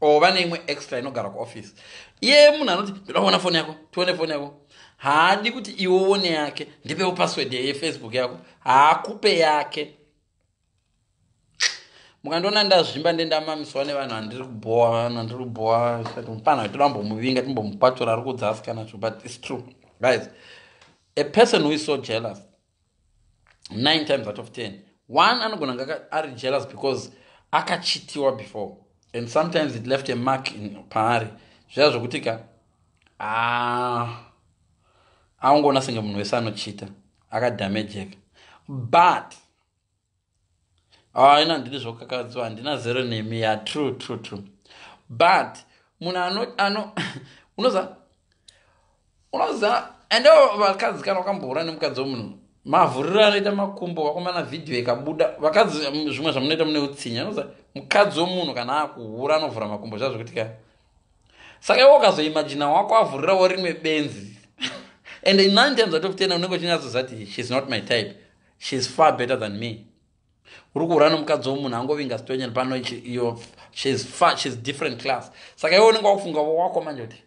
or vane imwe extra inogara kuoffice iye munhu anoti ndoda kuona foni yako tione foni yako haadi kuti iwe uone yake ndipewo password yefacebook yako haakupe yake mukandiona ndazvimba ndendamamiswa nevanhu andiri kubhowa vanhu andiri kubhowa mupana toda mbomuvinga timbomupatula ari kudzasikana zvo but its true guys a person who is so jealous 9 times out of 10 one anogona nga ari jealous because akachitiwa before and sometimes it left a mark paari zviya zvokuti ka aungoona senge munhu wese anochita akadamejeka but haina ah, ndiri zvokakadziwa handina zero nemi ya true true true but munhu ano ano unoza unoza ende vakadzi kana wakambohura nemukadzi wemunhu mavhuriro anoita makumbo vakomana vhidhiyo ikabuda vakadzi zvimwe zvamunoita mune utsinya unoza mukadzi wemunhu kana akuhura anovhura makumbo zvazvo kuti ka saka iwe ukazoimajina wako avhurirawo rimwe benzi and in nine times out of ten unenge uchinyatsoziva kuti she's not my type she is far better than me uri kuhura nomukadzi womunhu angovinga stonyan pano shes different class saka iwe unenge wakufunga wako manje kuti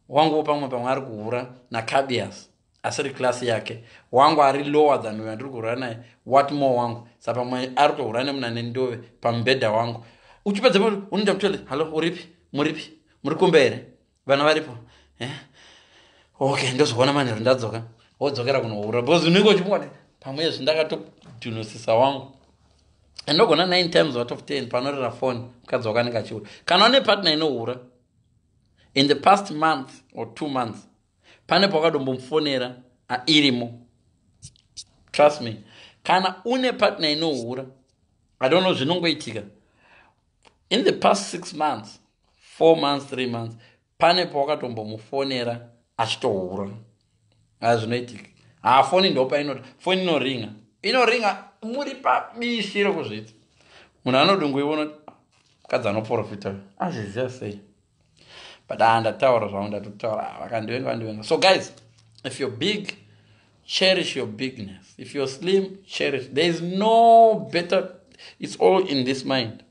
wanguwo pamwe pamwe ari kuhura nacabias asiri class yake wangu ari lower than uyo andiri kuhura naye what more wangu sa pamwe ari kutohura nemuna nendove pamubhedha wangu uchipedza unoita kutoti hallo uripi muripi muri kumbe here vana varipo eh? okay ndozoona manheru ndadzoka wodzokera kunohura bcause unenge uchimukwane pamwe izvi ndakatodhunosisa wangu andogona nine times out of ten panorera foni mukadzi wako anenge achihura kana une partner inohura in the past month or two months pane pawakadombomufonera irimo trust me kana une partner inohura i don't know zvinongoitika in the past six months four months three months pane pawakatombomufonera achitohura a zvinoitika haa foni ndopainoti foni inoringa inoringa muri pabishi rekuzviti munhu anodunguiwonoti mukadzi anoprofita azviziva sei but haa ah, ndataura zvangu ndatotaura ah, vakandivenga vandivenga so guys if you're big cherish your bigness if you're slim cherish there is no better it's all in this mind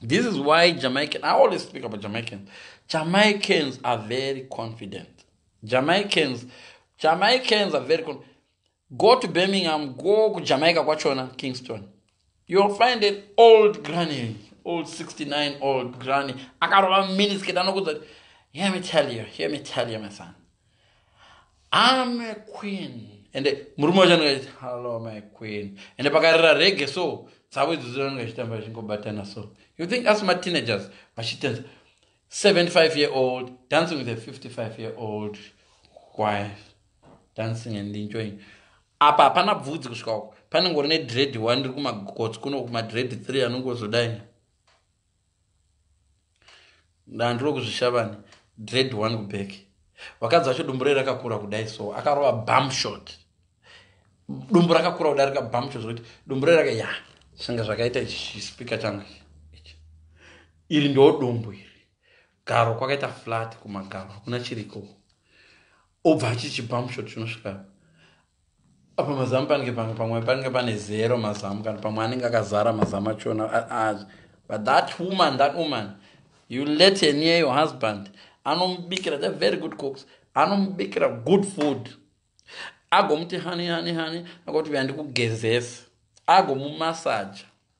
this is why jamaican i always speak about jamaicans jamaicans are very confident jamaicans jamaicans are very confident go to birmingham go kujamaica kwachona kingston youll find an old granny old 69 old granny akarova minisket anokudza kuti hear me tell you hear me tell you my son am a queen ende murume wacho anenge achiti hallo my queen ende pakarira rege so dzavo idzodzo anenge achitamba achingobatana so you think asi mateenagers vachitenza 75 year old dancing with a 55 year old wife dancing and enjoying apa hapana bvudzi kusvika uko panengori nedread one ndiri kumagotsi kuno kumadread three anongozodai ndandiri kuzvishavani dread one kuback vakadzi vacho dumbu rei rakakura kudai so akarova bum shot dumbu rakakura kudai rika bum shot zvekuti dumbu rei raka ya senge zvakaita ichi chispika changu iri ndo dumbu iri garo kwakaita flat kumagaro hakuna chiriko obva achichibamshot chinosvika apa mazamu panenge pange pamwe panenge pane zero mazamu kana pamwe anenge akazara mazamu achona but that woman that woman you let her near your husband anomubikira the very good cooks anomubikira good food agomuti hani hani hani akoti uya ndikugezesa agomumasaja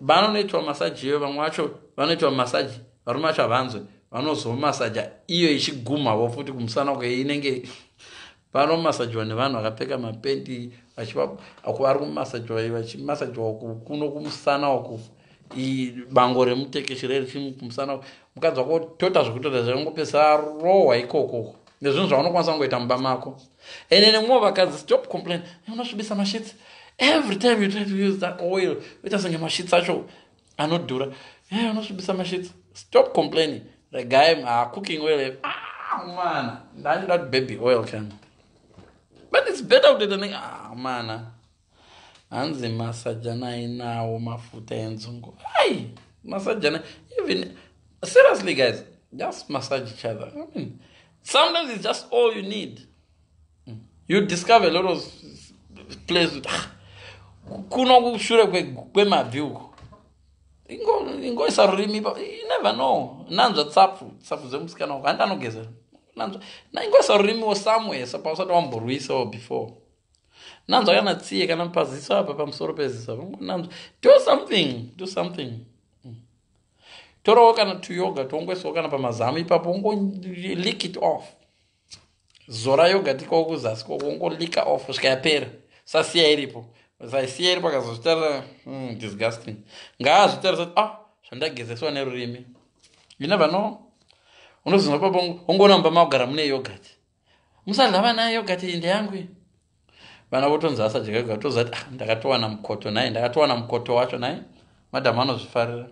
vanonoitwa masaji iyoyo vamwe vacho vanoitwa masaji varume vacho havanzwe vanozomasaja iyo ichigumhavo futi kumusana uko inenge vanomasajwa nevanhu vakapfeka mapendi vachivari kumasajwa vachimasajwa uku kuno kumusana uku bango remutekeshi rerichi kumusana uku mukadzi wako tota zvekutoita zvekungopesa rohwa ikokoko nezvinhu zvaunokwanisa kungoita mumba mako ende nemumwe vakadzi stop complain unosvibisa mashitsi every time you try to use that oil uita senge mashitsi acho anodhura e unosvibisa mashitsi stop complaining regai ah, cooking oil eh. ah, mana ndandida baby oil kana but it's better kuteta ne ah, mana hanzi masajana ainawo mafuta enzungu ai masajana even seriously guys just massage each other I mean, sometimes it's just all you need hmm. you discover a lot of place ah, kuno kushure kwemabvi uko ingoisa rurimi you never know nanzva tsapfu tsapfu dzemusikana uko handi anogeza nanzva ingoisa rurimi wo somewhere sapa usati wamborwisawo before nanzwa kana tsiye kana paziso apa pamusoro peziso apa nanzwa do something do something mm. torawo kana tuyoga tongoiswawo kana pamazamu ipapo ungo lick it off zora yoga tikawo kuzasi koko ungo lika off svika yapera sasiya iripo saisiya iripo akazozvitarisa mm, disgusting ngaazvitarisa ah zvandagezeswa nerurimi you never know unozinwa papo ungoona mumba makugara mune yogati musadlava naye yogati iyi ndeyangu iyi vana votonzi asadya yoga toziva kuti ah, ndakatowana mukoto naye ndakatowana mukoto wacho naye madhamu anozvifarira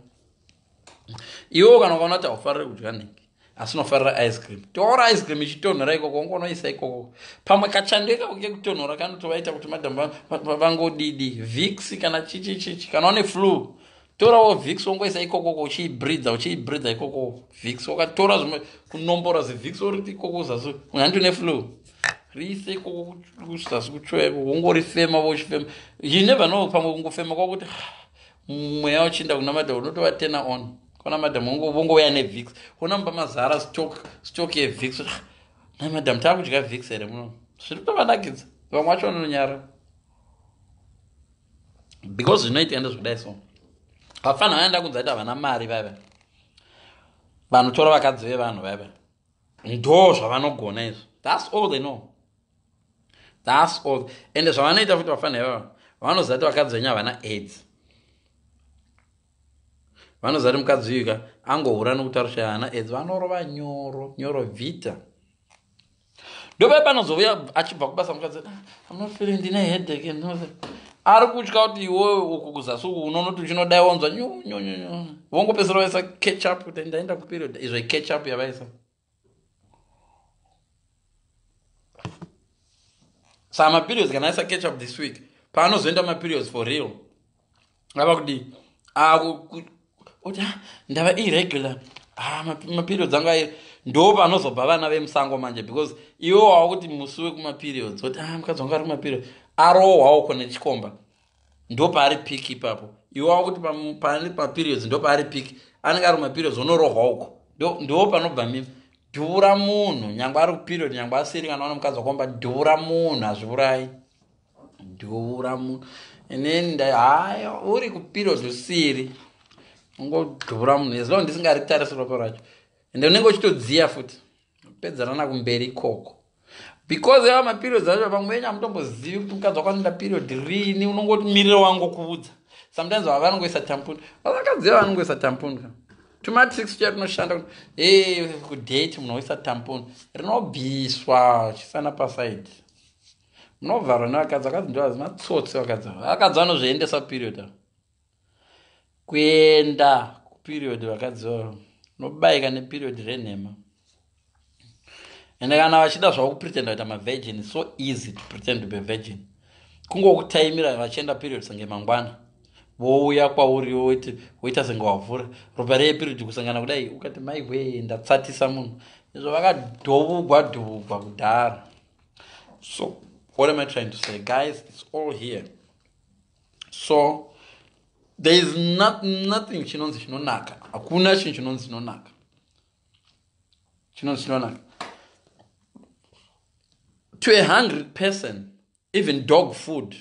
iwewo kana ukaona kuti haufarire kudya nhingi asi unofarira ice cream toora ice cream ichitonhora ikoko unge unoisa ikoko pamwe kachando ikako kekutonhora kanotovaita kuti madhamu vangodidi vix kana chichichichi kana une flu torawo vix wongoisa ikokoko uchiibridha uchiibridha ikoko vix wakatora zvimwe kunombora zivix oriti ikoko zasi unhandi une flu riise ikoko kuzasi kutsvoya ikoko wongorifema vochifema you never know pamwe kungofema kwakuti mweya uchiinda kuna madam unotova tena on kona madam vongouya nevix ona mumba mazara stock stock yevix nai madam taakudya vix here muno zviri kutovanakidza vamwe vacho vanonyara because zvinoitika ndezvekudai so vapfanha vaya ndakunza ita vana mari vaiva vanotora vakadzi vevanhu vaiva ndo zvavanogona izvo thats all they know thats all ende zvavanoita futi vapfanha ivava vanoziva ti vakadzi venyu havana aids vanoziva ti mukadzi uyuka angohura nokutarisha havana aids vanorova nyoro nyoro vita ndopai panozouya achibva kubasa mukadzi amafiri ah, ndine hedeke ari kutya kuti iwe uku kuzasi uku unonoti uchinodai wanzwa nyunyunyunyu vongopesera vaisa ketchup kuti ndaenda kuperiod izvo ketchup yavaisa saa maperiods kana aisa ketchup this week paanozoenda maperiods for real ava kudii akuti ah, ndava irregular ah, maperiods anga ayo ndo panozobva vana vemusango manje because iwe wava kuti musi wekumaperiods oti ah, mukadzi wangu ari kumaperiods arohwawo kona chikomba ndo paari pik ipapo iwe wava kuti pane maperiods ndo paari pik anenge ari kumaperiods onorohwa uko ndo panobva mimi dhura munhu nyangwe ari kuperiod nyangwe asiri kana wana mukadzi wakomba dhura munhu hazviurayi dura mu inini ndai haya uri kupiro zvisiri ungodura munhu as long ndisingaritarise roko racho ende unenge uchitodziya futi pedzanana kumberi ikoko because yava maperiod acho vamwe venyu hamutombozivi kuti mukadzi wakanoenda period rini unongoti miriro wangu kuudza sometimes vava vanongoisa tampuni vavakadzi va vanongoisa tampuni ka tumatrix tuya tunoshanda kuti e kudate munhu woisa tampuni rinobviswa chisana pasaidi munovharwa nevakadzi vakadzi ndovazi matsotsi vakadzi vakadzi vanozviendesa kuperiod avo kuenda kuperiod vakadzi vavo nobayika neperiod renhema ende kana vachida zvavo kupretenda kuita mavirgin so easy to pretend to be virgin kungokutaimira vachienda period senge mangwana vouya kwauri woita senge wavhura ropa reye period kusangana kudai ukati maiwee ndatsatisa munhu izvo vakadhuvugwa dhuvugwa kudhara so what am i trying to say guys its all here so there is not, nothing chinonzi chinonaka hakuna chinhu chinonzi chinonaka chinonzi chinonaka to a hungry person even dog food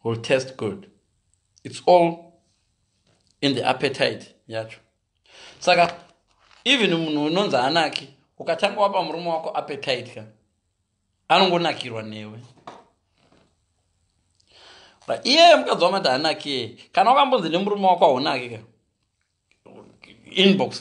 will taste good it's all in the appetite yacho saka even munhu unonzi anaki ukatanga wapa murume wako appetite ka anongonakirwa newe but iyeye mukadzi wamati hanakiye kana wakambonzi nemurume wako haunaki ka inbox